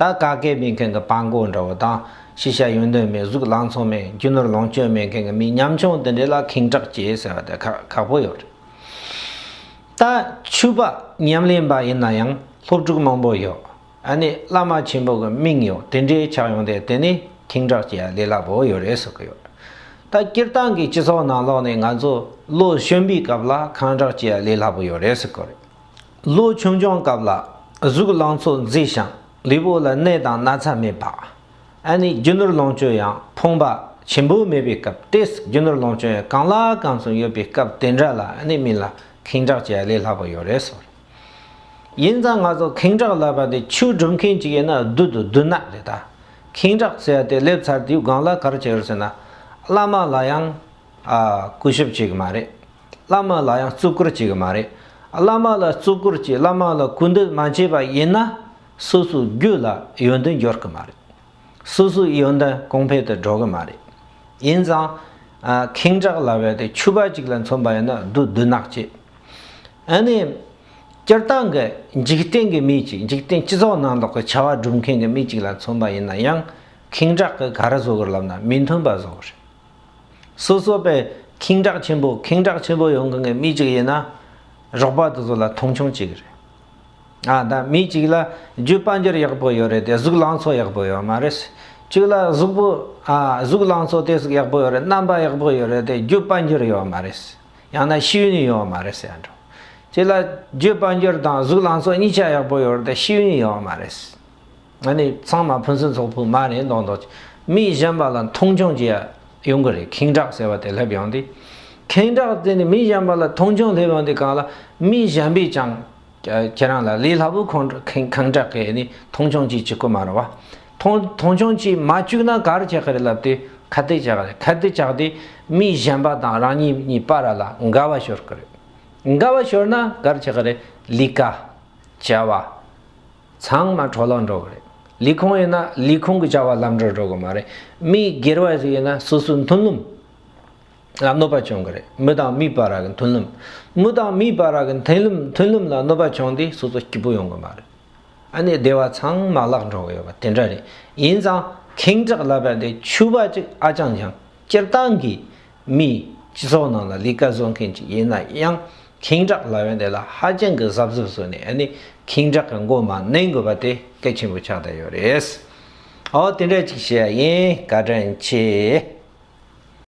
ད་ག་གེ་མེད་མཁན་གྱི་པགས་མགོ་འདྲ་བོ་དང་ཤེས་བྱ་ཡོད་དོན་མེད་གཟུགས་ལང་ཚོ་མེད་རྒྱུ་ནོར་ལོངས་སྤྱོད་མེད་མཁན་གྱི་མི་ཉམ་ཆུང་དེ་འདྲས་ལ་ཁེངས་དྲག་བྱེད་ཟེར་བ་དེ་ཁག་པོ་ཡོད་རེད། ད་ཆུ་པ་ཉམས་ལེན་པ་ཡིན་ན་ཡང་སློབ་ཕྲུག་མང་པོ་ཡོད་ཨ་ནི་བླ་མ་ཆེན་པོ་གི་དམིང་ཡོད་དེ་འདྲས་ཆགས་ཡོང་སྟེ་དེ་ནི་ཁེངས་དྲག་བྱེད་ཡ་ལས་སླ་པོ་ཡོད་རེད་ཟེར་གྱི་ཡོད། ད་སྤྱིར་བཏང་གི་སྤྱི་ཚོགས་ནང་ལོག་ནས་ང་ཚོ་བློ་གཞོན་པའི་སྐབས་ལ་ཁང་དྲག་བྱེད་ཡ་ལས་སླ་པོ་ཡོད་རེད་ཟེར་གྱི་རེད། ལོ་ཆུང་ཆུང་སྐབས་ལ་གཟུགས་ལང་ཚོ་མཛེས་ཤིང་ལུས་པོ་ལ་ནད་དང་ན་ཚ་མེད་པ། ཨ་ནེས་རྒྱུ་ནོར་ལོངས་སྤྱོད་ཡང་ཕོངས་པ་ཆེན་པོ་མེད་པའི་སྐབས་དེས་རྒྱུ་ནོར་ལོངས་སྤྱོད་ཡང་གང་ལ་གང་མཚུངས་ཡོད་པའི་སྐབས་དེ་འདྲ་ལ་ཨ་ནེ་མིན་ལ་ཁེངས་དྲགས་བྱས་ལས་སླ་པོ་ཡོད་རེད་ཟེར། ཡིན་ཙང་ང་ཚོ་ཁེངས་དྲགས་ལབ་པ་དེ་ཆུ་སྒྲུབ་མཁན་གཅིག་ཡོད་ན་བདུད་དུ་བདུད་ནག་རེད་ད། ཁེངས་དྲགས་ཟེར་ཡ་དེ་སླེབས་ཚར་དུས་སྒང་ལ་གར་བྱེད་རོགས་ཟེར་ན། བླ་མ་ལ་ཡང། ཨ། སྐུ་ཞབས་བྱེད་གི་མ་རེད། བླ་མ་ལ་ཡང་བརྩི་བཀུར་བྱེད་ཀྱི་མ་རེད། བླ་མ་ལ་བརྩི་བཀུར་གྱིས་བླ་མ་ལ་གུས་འདུད་མ་བྱས་པ་ཡིན་ན། སོ་སོའི་རྒྱུད་ལ་ཡོན་ཏན་འབྱོར་གྱི་མ་རེད། སོ་སོའི་ཡོན་ཏན་གོང་འཕེལ་དུ་འགྲོ་གི་མ་རེད། ཡིན་ཙང། ཁེངས་དྲགས་ལ་བས་ཏེ་ཕྱུ་པ་གཅིག་ལ་མཚོན་པ་ཡིན་ན་བདུད་བདུད་ནག་བྱེད། ཨ་ནི། སྤྱིར་བཏང་གི་འཇིག་རྟེན་གྱི་མི་གཅིག་འཇིག་རྟེན་སྤྱི་ཚོགས་ནང་དོགས་ཀྱི་བྱ་བ་སྒྲུབ་མཁན་གྱི་མི་གཅིག་ལ་མཚོན་པ་ཡིན་ན་ཡང་ཁེངས་དྲགས་ཀྱིས་ག་རེ་བཟོ་དགོས་ལབ་ན་མི་མཐུན་པ་བཟོ་གི་རེད། སོ་སོ་པའི་ཁེངས་དྲགས་ཆེན་པོ་ཁེངས་དྲགས་ཆེན་པོ་ཡོང་གི་ངའི་མི་གཅིག་ཡིན་ན། རོགས་པ་དེ་ཚོ་ལ་མཐོང་ཆུང་བྱེད་ཀྱི་རེད། ཨ་ད་མི་གཅིག་ལ་རྒྱུད་དཔལ་འབྱོར་ཡག་པོ་ཡོད་རེད་དེ་གཟུགས་ལང་ཚོ་ཡག་པོ་ཡོད་མ་རེད། གཅིག་ལ་གཟུགས་པོ་ཨ་གཟུགས་ལང་ཚོ་དེ་སུག་ཡག་པོ་ཡོད་རེད་རྣམ་པ་ཡག་པོ་ཡོད་རེད་དེ་རྒྱུད་དཔལ་འབྱོར་ཡོད་མ་རེད། ཡང་ན་ཤེས་ཡོན་ཡོད་མ་རེད་ཟེར་འགྲོ། གཅིག་ལ་རྒྱུད་དཔལ་འབྱོར་དང་གཟུགས་ལང་ཚོ་གཉིས་ཆ་ཡག་པོ་ཡོད་རེད་དེ་ཤེས་ཡོན་ཡོད་མ་རེད། ང་ནི་ཚང་མ་ཕུན་སུན་ཚོགས་ཕུ་མ་རེད་མདོག་མདོག་བྱེད། མི་གཞན་པ་ལ་མཐོང་ཆུང་བྱེད་ཡོང་གི་རེད་ཁེངས་དྲགས་ཟེར་བ་དེ་སླེབས་ཡོང་དུས། ཁེངས་དྲགས་དེ་ནི་མི་གཞན་པ་ལ་མཐོང་ཆུང་སླེབས་ཡོང་དུས་གང་ལ། མི་གཞན་པས་ཀྱང། ཁྱེད་རང་ལ་ལས་སླ་པོ་ཁེངས་དྲགས་ཀྱི་ཡོད་ནི་མཐོང་ཆུང་ཅིག་བྱེད་ཁོ་མ་རུང་བ། མཐོང་ཆུང་ཅིག་མ་བཅུག་ན་གར་བྱེད་ཀྱི་རེད་ལབ་དུས་ཁ་བཏད་བྱེད་ཀྱི་རེད་ཁ་བཏད་བྱས་དུས་མི་གཞན་པ་དང་རང་ཉིད་གཉིས་པ་ར་ལ་འགལ་བ་ཤོར་གྱི་རེད། འགལ་བ་ཤོར་ན་གར་བྱེད་ཀྱི་རེད་ལི་ཀ། བྱ་བ། ཚང་མ་གྲོ་ལ་འགྲོ་གི་རེད། ལས་ཁུངས་ཡོད་ན་ལས་ཁུངས་ཀྱི་བྱ་བ་ལམ་འགྲོར་འགྲོ་གི་མ་རེད། མི་སྒེར་བ་ཞིག་ཡོད་ན་སོ་སོའི་མཐུན་ལམ་ལ་གནོད་པ་བྱུང་གི་རེད། མི་དང་མིའི་བར་གྱི་མཐུན་ལམ། མི་དང་མིའི་བར་གྱི་མཐུན་ལམ་མཐུན་ལམ་ལ་གནོད་པ་བྱུང་དུས་སོ་སོ་སྐྱིད་པོ་ཡོང་གི་མ་རེད། ཨ་ནེ་སྡེ་བ་ཚང་མ་བརླག་འགྲོ་གི་ཡོད་པ་དེ་འདྲ་རེད། ཡིན་ཙང་ཁེངས་དྲེགས་ལབ་པ་དེ་ཆུ་བ་གཅིག་ཨ་ཅང་ཅང་སྤྱིར་བཏང་གིས་མིའི་སྤྱི་ཚོགས་ནང་ལ་ལས་ཀ་བཟོ་མཁན་ཅིག་ཡིན་ན་ཡང་གིང་དྲག་ལ་ཡོན་ཏན་ལ་ཧ་ཅང་གི་གཟབ་གཟབ་བཟོ་ནས་ནི་གིང་དྲག་གི་མགོ་མ་ནོན་དགོས་པ་དེ་གལ་ཆེན་པོ་ཆགས་བསྡད་ཡོད་རེད། ཨོ་དེ་འདྲ་ཅིག་བྱེད་ཡ་ཡིན་བཀའ་དྲིན་ཆེ།